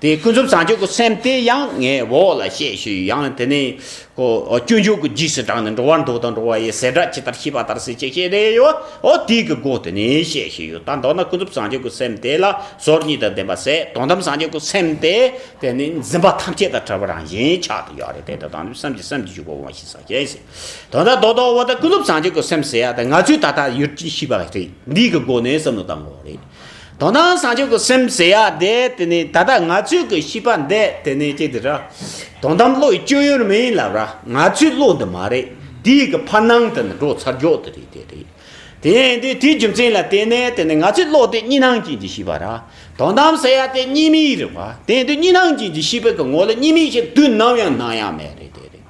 Speaker 1: དེ་ཀུན་རྫོབ་བྱང་ཆུབ་ཀྱི་སེམས་དེ་ཡང་ངས་འོག་ལ་བཤད་ཞུས་ཡང་དེ་ནི། སྐྱོན་བརྗོད་ཀྱི་རྗེས་སུ་འབྲངས་ནས་འགྲོ་བར་འདོད་དང་འགྲོ་བ་ཡི་ཟེར་སྒྲ་ཇི་ལྟར་ཤེས་པ་ལྟར་ཟིན་ཅེས་བཤད་དེ། འོ་དེའི་གི་སྒོ་དེ་ནས་བཤད་ཞུས་ཡོད་ད་མདོར་ན་ཀུན་རྫོབ་བྱང་ཆུབ་ཀྱི་སེམས་དེ་ལ་ཟོར་གཉིས་དང་ལྡན་པ་ཟད་དོན་དམ་བྱང་ཆུབ་ཀྱི་སེམས་དེ་དེ་ནི་འཛིན་པ་ཐམས་ཅད་དང་བྲལ་བ་རང་བཞིན་ཆགས་དེ་ཡོད་རེད་དེ་དེ་དང་དུས་བསམ་གྱི་སེམས་ཀྱི་འཇུག་པ་འོང་ཞིག་ས་གཞན་ཞིག་དོན་དག་རྡོ་དང་འོ་དེ་ཀུན་རྫོབ་བྱང་ཆུབ་ཀྱི་སེམས་ཟེར་ཡ་དེ་ང་ཚོས་ད་ལྟ་ཡུལ་གྱི་ཤེས་པ་རེད་འདིའི་གི་སྒོ་ནས་བསམ་བློ་བཏང་བ་རེད། དོ་སྣང་བཟང་སྤྱོད་ཀྱི་སེམས་ཟེར་ཡ་དེ་དེ་ནི་ད་ལྟ་ང་ཚོས་ཀྱི་ཤིས་པ་འདི་དེ་ནི་ཅི་དེ་ར། དོན་དམ་བློའི་སྤྱོད་ཡུལ་མི་ཡིན་ལ་ར་ང་ཚོའི་བློ་འདི་མ་རེད་དེ་ཡི་གི་ཕར་ནང་དུ་ནི་འགྲོ་ཚར་འཇོག་དེ་རེད་དེ་རེད། དེ་ཡིན་དུས་དེའི་རྒྱུ་མཚན་ལ་བརྟེན་ནས་དེ་ནི་ང་ཚོའི་བློ་དེ་གཉིས་སྣང་ཅན་གྱི་ཤིས་པ་ར། དོན་དམ་ཟེར་ཡ་དེ་གཉིས་མི་ཡི་རི་བ་དེ་ཡིན་དུས་གཉིས་སྣང་ཅན་གྱི་ཤིས་པའི་གི་ངོ་ལ་གཉིས་མིན་ཞིག་དུས་ནམ་ཡང་སྣང་ཡ་མེད་རེད་དེ་རེད།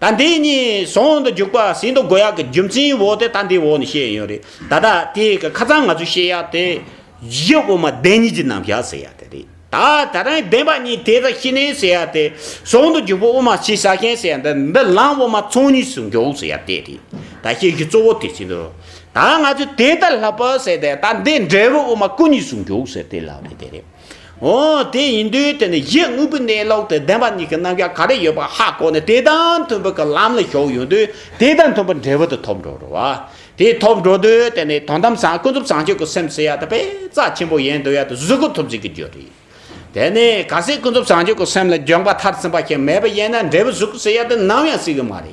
Speaker 1: ད་འདི་གཉིས་ཟོང་དུ་འཇུག་པ་ཟིན་ཐོ་འགོད་ཡག་གི་རྒྱུ་མཚན་འོག་དེ་ད་འདི་འོག་ནས་བཤད་ཡོད་རེད་ད་ད་དེ་གི་ཁ་ཚང་ང་ཚོས་བཤད་ཡག་དེ་གཞི་དབུ་མ་བདེན་གཉིས་ཀྱི་རྣམ་བཞག་ཟེར་ཡག་དེ་རེད་ད་ད་རང་བདེན་པ་གཉིས་དེ་ད་ཤི་ནས་ཟེར་ཡག་དེ་ཟོང་དུ་འཇུག་པ་དབུ་མ་ཕྱི་ས་མཁན་ཟེར་ཡག་འདི་འདི་ལམ་དབུ་མ་ཚོགས་གཉིས་སུ་འཇོག་ཟེར་ཡག་དེ་རེད་ད་བཤད་རྒྱུ་གཙོ་བོ་དེ་ཟིན་ཐོ་ད་ང་ཚོས་དེ་ད་ལྷག་པར་ཟེར་དེ་ད་འདི་འབྲས་བུ་དབུ་མ་སྐུ་གཉིས་སུ་འཇོག་ཟེར་དེ་ལགས་རེད་དེ་རེད། ཨོ། དེ་ཡིན་དུས་དེ་ནི་ཡིད་དངོས་པོའི་གནས་ལུགས་དེ་བདེན་པ་གཉིས་ཀྱི་རྣམ་གཞག་ག་རེ་ཡོད་པ་ཧ་གོ་ནས་དེ་དང་མཐུན་པའི་གི་ལམ་ལ་ཞོག་ཡོང་དུས་དེ་དང་མཐུན་པའི་འབྲས་བུ་དེ་ཐོབ་འགྲོ་རུ་བ། དེ་ཐོབ་འགྲོ་དུས་དེ་ནི་དོན་དམ་བཟང་ཀུན་རྫོབ་བཟང་སྤྱོད་ཀྱི་སེམས་སུ་ཡ་ད་པས་རྩ་ཆེན་པོ་ཡན་དུ་ཡ་ད་གཟུགས་སྐུ་ཐོབ་ཟིན་གྱི་རྒྱུ་རེད། དེ་ནི་ག་སེ་ཀུན་རྫོབ་བཟང་སྤྱོད་ཀྱི་སེམས་ལ་འཇོག་པ་མཐར་ཟིན་པ་ཞིག་མེད་པས་ཡན་ན་འབྲས་བུ་གཟུགས་སྐུ་སེ་ཡ་ད་ནམ་ཡང་སྲིད་གི་མ་རེད།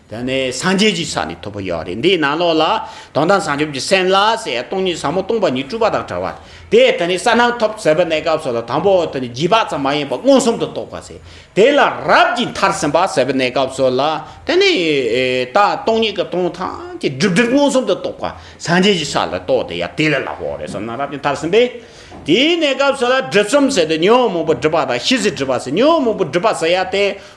Speaker 1: དེ་ནི་སངས་རྒྱས་ཀྱི་ས་ནས་ཐོབ་པ་ཡང་རེད་འདིའི་ནང་ལོགས་ལ་དོན་དམ་བྱང་ཆུབ་ཀྱི་སེམས་ལ་ཟེར་ཡ་སྟོང་ཉིད་ཟབ་མོ་སྟོང་པ་ཉིད་སྤྲུལ་པ་དང་བྲལ་བ་དེ་དེ་ནས་ས་རྣམས་ཐོབ་ཟེར་བའི་གནས་སྐབས་སོགས་ལ་དང་པོ་དེ་ནི་བརྒྱུད་པ་ཙམ་མ་ཡིན་པར་མངོན་སུམ་དུ་རྟོགས་པ་ཟེར་དེ་ལ་རབ་ཀྱི་མཐར་ཟིན་པ་ཟེར་བའི་གནས་སྐབས་སོགས་ལ་དེ་ནི་ད་སྟོང་ཉིད་ཀྱི་སྟོང་ཐམས་ཅད་སྒྲིབ་སྒྲིབ་མངོན་སུམ་དུ་རྟོགས་པ་སངས་རྒྱས་ཀྱི་ས་ལ་རྟོགས་དེ་ཡང་དེ་ལས་ལྷག་པའོ་རེ་བསམ་ན་རབ་ཀྱི་མཐར་ཟིན་པས་དེའི་གནས་སྐབས་སོགས་ལ་སྒྲིབ་གསུམ་ཟེར་ཏེ་ཉོན་མོངས་པ་སྒྲིབ་པ་དང་ཤེས་བྱའི་སྒྲིབ་པ་ཟེར་ཉོན་མོངས་པ་སྒྲིབ་པ་ཟེར་ཡ་དེ་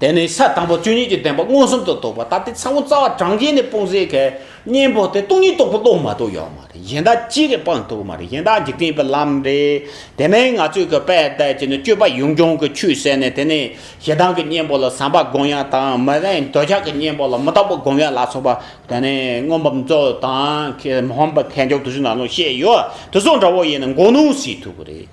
Speaker 1: དེ་ནས་ས་དང་པོ་བཅུ་གཉིས་ཀྱི་བདེན་པ་མངོན་སུམ་དུ་རྟོགས་པ་ད་ལྟའི་ཚ་བོ་རྩ་བ་གྲངས་བརྒྱད་ནི་སྤོང་ཟེར་གི། གཉེན་པོ་དེ་སྟོང་ཉིད་རྟོགས་པའི་བློ་མ་གཏོགས་ཡོད་མ་རེད་གཞན་དག་ཅི་རེད་སྤངས་ཐུབ་མ་རེད་གཞན་དག་འཇིག་རྟེན་པའི་ལམ་རེད། དེ་མིན་ང་ཚོས་གི་དཔལ་དད་ཀྱི་ནི་སྤྱོད་པ་ཡུངས་འབྱུང་གི་ཆུད་ཟད་ནས་དེ་ནས་ཞེ་སྡང་གི་གཉེན་པོ་ལ་བསམ་པ་སྒོམ་ཡང་དང་མི་རན་འདོད་ཆགས་ཀྱི་གཉེན་པོ་ལ་མི་རྟག་པ་སྒོམ་ཡང་ལ་སོགས་པ་དེ་ནི་མངོན་པར་མཛོད་དང་མཁས་མངོན་པར་མཁས་འཇོག་དུ་ཆུད་ནང་ལུགས་བཤད་ཡོད་དུ་སོང་འདྲ་བོ་ཡིན་ན་མགོ་རྣོ་སྲིད་ཐུབ་རེད།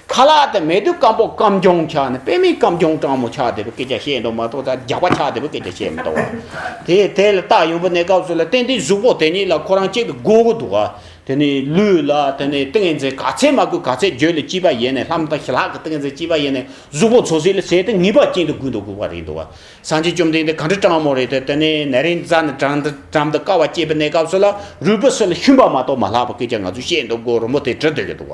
Speaker 1: ཁ་ལག་དེ་མེད་དུས་སྐམ་པོ་སྐམ་སྐྱོང་ཆགས་ནས་དཔེ་མེད་སྐམ་སྐྱོང་སྤྲང་མོ་ཆགས་དེ་པོ་སྐད་ཆ་བཤད་མདོག་མ་གཏོགས་ད་རྒྱག་པ་ཆགས་དེ་པོ་སྐད་ཆ་བཤད་མི་འདོག་དེ་དེ་ལ་སྟག་ཡོན་པོ་གནས་སྐབས་སུ་ལ་ཏན་ཏན་གཟུགས་པོ་དེ་ཉིད་ལ་ཁོ་རང་གཅིག་ཏུ་དགོད་གི་འདུག་དེ་ནི་ལུས་ལ་དེ་ནི་ཏིང་ངེ་འཛིན་ག་ཚད་མ་གུས་ག་ཚད་བརྗོད་ལ་སྐྱིད་པ་ཡེ་ནས་ལྷམ་དང་ཞི་ལྷག་གི་ཏིང་ངེ་འཛིན་སྐྱིད་པ་ཡེ་ནས་གཟུགས་པོ་ཚོ་ཟིལ་ལ་ཟེད་དེ་ངེས་པ་ཅན་དུ་གུས་འདུག་གུས་པ་རེད་འདུག་བ་སངས་རྒྱས་བཅོམ་ལྡན་འདས་ག་འདྲ་སྤྲང་མོ་རེད་དེ་ནི་ནད་རིང་རྩ་ནི་དྲང་དུ་དྲང་དུ་ཀ་བ་སྐྱེས་པའི་གནས་སྐབས་སུ་ལ་རུས་པ་སོ་ལ་ཤུན་པ་མ་གཏོགས་མ་ལྷག་པ་སྐད་ཆ་ང་ཚོས་བཤད་མདོག་མགོ་རུ་མོ་དེ་བྲི་སྡོད་ཀྱི་འདུག་བ།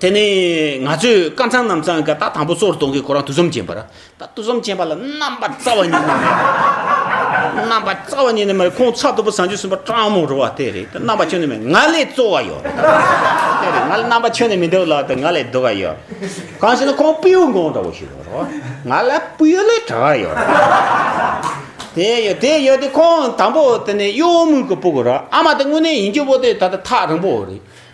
Speaker 1: དེ་ནས་ང་ཚོས་དཀར་ཚང་ནམ་ཚང་གི་ད་དང་པོ་སོར་སྟོང་གི་ཁོ་རང་དུག་གསུམ་ཅན་པ་ར་ད་དུག་གསུམ་ཅན་པ་ལ་རྣམ་པ་རྩ་བ་ཉིད་ནས་མེད་རྣམ་པ་རྩ་བ་ཉིད་ནས་མེད་ཁོང་ཚ་དུ་བུ་བཟང་ཆུ་གསུམ་པ་སྤྲང་མོ་རུ་བ་དེ་རེད་དེ་རྣམ་པ་ཁྱོན་ནས་མེད་ང་ལས་གཙོ་བ་ཡོད་རེད་དེ་རེད་ང་ལ་རྣམ་པ་ཁྱོན་ནས་མི་འདུག་ལ་དེ་ང་ལས་སྡུག་བ་ཡོད་གང་ཞེ་ན་ཁོང་སྤེའུ་འགོང་འདྲ་བོ་ཞིག་རེད་རོ་ང་ལ་སྤེའུ་ལས་གྲགས་བ་ཡོད་རེད་དེ་ཡོད་དེ་ཡོད་དེ་ཁོང་དང་པོ་དེ་ནས་གཡོ་མུག་གི་སྤུ་གུ་ར་ཨ་མ་དེ་དངོས་གནས་ཡིན་རྒྱུ་པོ་དེ་ད་ད་ཐག་རིང་པོ་རེད་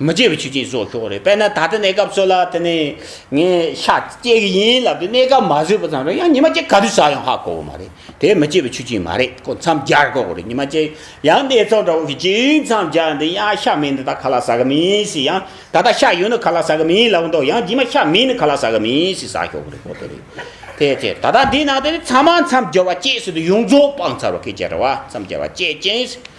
Speaker 1: མི་བརྗེད་པའི་ཆུ་སྐྱེས་བཟོ་ཤོག་རེད་དཔེར་ན་ད་ལྟ་གནས་སྐབས་ཚོད་ལ་དེ་ནས་ངས་ཤ་སྐྱེ་གི་ཡིན་ལབ་དུས་གནས་སྐབས་མ་བཟོས་པ་ཙམ་རེད་ཡང་ཉི་མ་གཅིག་ག་དུས་ཟ་ཡང་ཧ་གོ་གི་མ་རེད་དེ་མི་བརྗེད་པའི་ཆུ་སྐྱེས་མ་རེད་དཀོན་མཚམས་སྦྱར་དགོས་གི་རེད་ཉི་མ་གཅིག་ཡང་གནས་ཚང་འདྲ་བོ་ཞིག་གཅིག་མཚམས་སྦྱར་འདི་ཡང་ཤ་མིན་འདི་ད་ག་ལ་ཟ་གི་མིན་ཟེར་ཡང་ད་ལྟ་ཤ་ཡོད་ནི་ག་ལ་ཟ་གི་མིན་ལབ་འདོད་ཡང་རྗེས་མ་ཤ་མིན་ནི་ག་ལ་ཟ་གི་མིན་ཟེར་ཟ་ཤོག་གི་རེད་ཁོ་ཐག་རེད་དེ་ཐད་ད་ལྟ་འདིའི་ནང་དུ་ནི་ཚང་མ་མཚམས་སྦྱོར་བ་བཅས་སུ་དུ་ཡོངས་རྫོགས་སྤང་ཚར་བ་ཁས་བཅད་འདྲ་བ་མཚམས་སྦྱར་བ་བཅས་ཅན་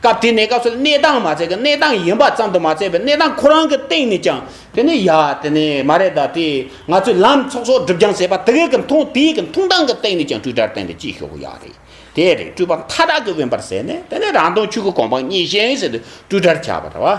Speaker 1: སྐབས་དེ་ནས་སྐབས་སུ་གནས་སྟངས་མ་བརྩད་ཀྱི་གནས་སྟངས་ཡིན་པ་ཙམ་དུ་མ་བརྩད་པའི་གནས་སྟངས་ཁོ་རང་གི་སྟེང་ནས་ཀྱང་དེ་ནི་ཡ་དེ་ནི་མ་རེད་ད་དེ་ང་ཚོས་ལམ་ཚོགས་ཚོགས་སྒྲུབ་རྒྱང་ཟེར་པ་དེ་གའི་གི་མཐོང་དེ་གའི་གི་མཐོང་སྟངས་ཀྱི་སྟེང་ནས་ཀྱང་སྤྲོས་བྲལ་བསྟན་པའི་སྐྱིད་ཤོག་གི་ཡ་རེད་དེ་རེད་སྤྲོས་པ་མཐའ་དག་གི་དབེན་པར་ཟད་ནས་དེ་ནི་རང་སྟོང་ཆོས་ཀྱི་དགོངས་པ་ངེས་ཤེས་ཟེར་དུས་སྤྲོས་བྲལ་ཆགས་པ་རེད་བ།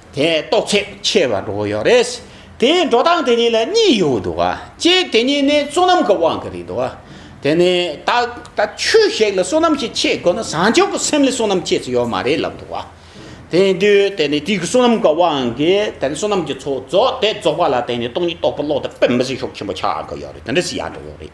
Speaker 1: དེ་རྟོགས་ཚད་ཆེ་བ་འགྲོ་གི་ཡོད་རེད། དེ་འགྲོ་སྟངས་དེ་གཉིས་ལ་གཉིས་ཡོད་འདུག་གཅིག་དེ་གཉིས་ནི་བསོད་ནམས་ཀྱི་དབང་གིས་རེད་འདུག་དེ་ནི་ད་ལྟ་ཁྱོད་ཞིག་ལ་བསོད་ནམས་ཞིག་བསྐྱེད་དགོས་ན་བཟང་ཕྱོགས་ཀྱི་སེམས་ལས་བསོད་ནམས་བསྐྱེད་ས་ཡོད་མ་རེད་ལབ་འདུག་དེ་དུས་དེ་ནི་དུས་ཀྱི་བསོད་ནམས་ཀྱི་དབང་གིས་དེ་ནི་བསོད་ནམས་ཀྱི་ཚོགས་རྫོགས་དེ་རྫོགས་པ་ལ་བརྟེན་ནས་སྟོང་ཉིད་རྟོགས་པ་བློ་དེ་དཔེ་མི་སྲིད་ཤོག་ཆེན་པོ་ཆགས་ཀྱི་ཡོད་རེད་དེ་འདྲ་ཞིག་ཡང་འགྲོ་གི་ཡོད་རེད།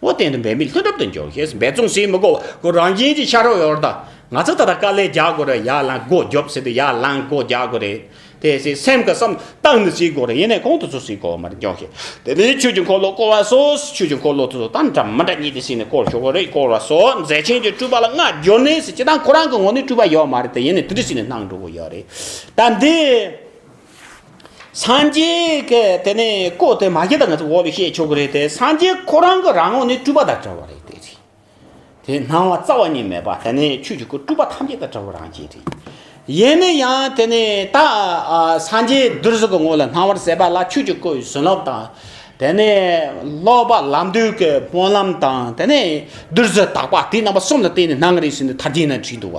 Speaker 1: བོ་བསྟན་དུ་འབད་མེད་ལྷུན་གྲུབ་ཏུ་འཇོག་ཞེས་འབད་བརྩོན་བྱེད་མི་དགོས་པར་རང་བཞིན་གྱིས་ཤར་འོད་འོར་དང། ང་ཚོས་ད་ལྟ་དཀའ་ལས་རྒྱག་དགོས་རེད་ཡར་ལངས་སྒོ་རྒྱོབ་ཟེར་དུས་ཡར་ལངས་སྒོ་རྒྱག་དགོས་རེད། དེ་སྲིད་སེམས་ཀྱི་སམ་རྟགས་ནི་བྱེད་དགོས་རེད་ཡིན་ནའི་གོང་དུ་སོ་སོའི་གོ་མར་འཇོག་ཞེས་དེ་ནི་ཆོས་ཀྱི་འཁོར་ལོ་བསྐོར་བ་སོགས་ཆོས་ཀྱི་འཁོར་ལོ་དེ་ཚོ་དང་འདྲ་མི་འདྲ་གཉིས་དེ་སྲིད་ནས་བསྐོར་ཞོག་གོ་རེད་བསྐོར་བ་སོགས་མཛད་ཆེན་གྱི་སྤྲུལ་པ་ལ་བསྔགས་བརྗོད་ནི་སྲིད་སྤྱི་དང་ཁོ་རང་གི་ངོ་ནས་སྤྲུལ་པ་ཡོད་མ་རེད་དེ་ཡིན་ནའི་དེ་འདྲའི་སྲིད་ནས་སྣང་འགྲོ་གི་ཡོད་རེད་ད་འདི། སངས་རྒྱས་ཀྱི་དེ་ནས་བཀོད་དེ་མ་བྱས་ད་ང་ཚོ་འོག་ནས་བཤད་ཆོག་གི་རེད་དེ་སངས་རྒྱས་ཁོ་རང་གི་རང་ངོ་ནི་སྤྲུལ་པ་དང་བྲལ་བ་རེད་དེ་རེད་དེ་སྣང་བ་རྩ་བ་ཉིད་མེད་པ་དེ་ནས་ཆོས་ཀྱི་སྐུ་སྤྲུལ་པ་ཐམས་ཅད་དང་བྲལ་བ་རང་བྱིན་རེད་ཡིན་ནས་ཡང་དེ་ནས་ད་སངས་རྒྱས་བདུད་རྩི་གི་ངོ་ལ་སྣང་བར་ཟད་པ་ལ་ཆོས་ཀྱི་སྐུ་ཡི་བྱིན་རླབས་དང་དེ་ནས་ལོག་པ་ལམ་དུས་ཀྱི་སྨོན་ལམ་དང་དེ་ནས་བདུད་རྩི་དག་པ་དེ་རྣམ་པ་གསུམ་ལ་བརྟེན་ནས་སྣང་རེ་ཟིན་དུ་མཐར་འདི་ན་བྲིས་འདུག་བ་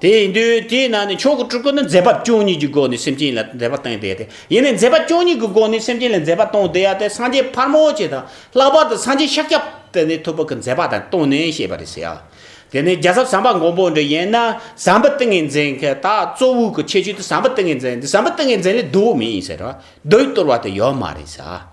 Speaker 1: དེ་ཡིན་དུས་དེའི་ནང་ནས་ཆོས་སྐུ་སྤྲུལ་སྐུ་ནི་མཛད་པ་བཅུ་གཉིས་ཀྱི་སྒོ་ནས་སེམས་ཅན་ལ་མཛད་པ་སྟོན་བདེ་སྟེ་ཡིན་ནས་མཛད་པ་བཅུ་གཉིས་ཀྱི་སྒོ་ནས་སེམས་ཅན་ལ་མཛད་པ་སྟོན་བདེ་ཡ་དེ་སངས་རྒྱས་ཕར་མོ་ཆེ་དང་ལྷག་པར་དུ་སངས་རྒྱས་ཤཱཀྱ་པད་ནི་ཐུབ་པ་གྱིས་མཛད་པ་དང་བསྟུན་ནས་བཤད་པ་རེད་ཟེར་ཡ། དེ་ནས་རྒྱལ་ཚབ་ཟམ་པ་མགོན་པོ་འདི་ཡན་ན་ཟམ་པ་ཏིང་ངེ་འཛིན་གྱི་ད་གཙོ་བོའི་གྱི་ཁྱད་ཆོས་དེ་ཟམ་པ་ཏིང་ངེ་འཛིན་འདི་ཟམ་པ་ཏིང་ངེ་འཛིན་ལས་བསྡུ་བ་མིན་ཟེར་བ་བསྡུ་བའི་བསྟོར་བ་དེ་ཡོད་མ་རེད་ཟེར།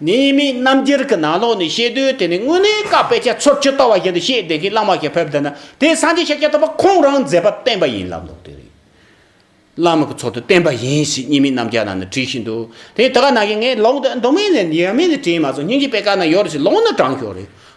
Speaker 1: ནི་མིའི་རྣམ་རྒྱལ་གྱི་ནང་ལོགས་ནས་བཤད་དུས་དེ་ནི་དངོས་གནས་བཀའ་དཔེ་ཆ་ཚོད་བཅུ་ལྟ་བ་བཞིན་དུ་བཤད་བསྡད་མཁན་བླ་མ་ཞིག་ཕེབས་བསྡད་ན་དེས་སངས་རྒྱས་ཤཱཀྱ་ཐུབ་པ་ཁོང་རང་མཛད་པ་བསྟན་པ་ཡིན་ལབ་ལོག་དེ་རེད། བླ་མ་གི་ཚོགས་དུ་བསྟན་པ་ཡིན་ཞེས་གཉིས་མིན་རྣམ་རྒྱལ་ནང་ནས་བྲིས་ཤིང་འདུག་དེ་ད་ག་ནང་གི་ངས་ལོག་འདུག་མདོ་སྨད་ནས་ཡར་མེད་ནས་བྲིས་མ་སོང་སྙིང་རྗེ་དཔེ་ཁག་ན་ཡོད་རེད་ཟེར་ལོག་ན་དྲང་ཞོག་རེད